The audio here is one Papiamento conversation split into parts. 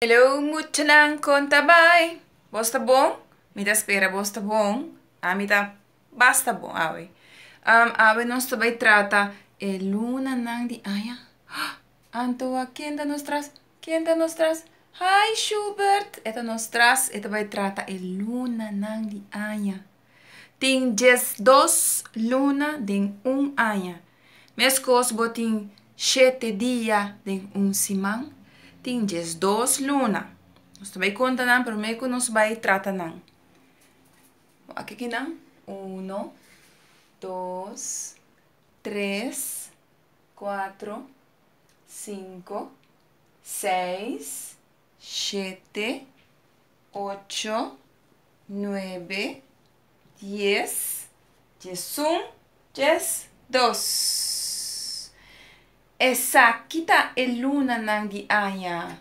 Hello muchanan kon ta bai? Bos ta bon? Mi ta spera bos ta bon, ami ta basta bon awe. Awe nos ta bai trata e lunanan di aña. Antoa, ken ta nos tras? Ken ta nos tras? Hi Shubert! E ta nos tras, e ta bai trata e lunanan di aña. Tin diesdos luna den un aña, meskos bo tin shete dia den un siman, tin diesdos luna. Nos ta bai konta nan promé ku nos bai trata nan. Wak aki nan, uno, dos, tres, kuatro, sinku, seis. shete, ocho, nuebe, dies, diesun, dies, dos. Esaki ta e lunanan di aña,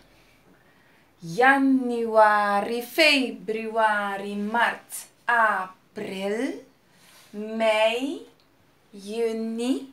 yanüari, febrüari, mart, aprel, mei, yüni,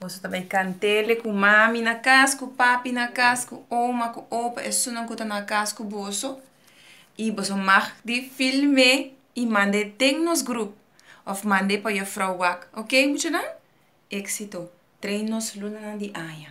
Boso ta bai kantele ku mami na kas, ku papi na kas, ku oma, ku opa, esunnan ku ta na kas ku boso. I boso mag di film'é i mand'é den nos grup òf mand'é pa Yòfrou Wak. Oké muchanan? Éksito! Trei nos lunanan di aña.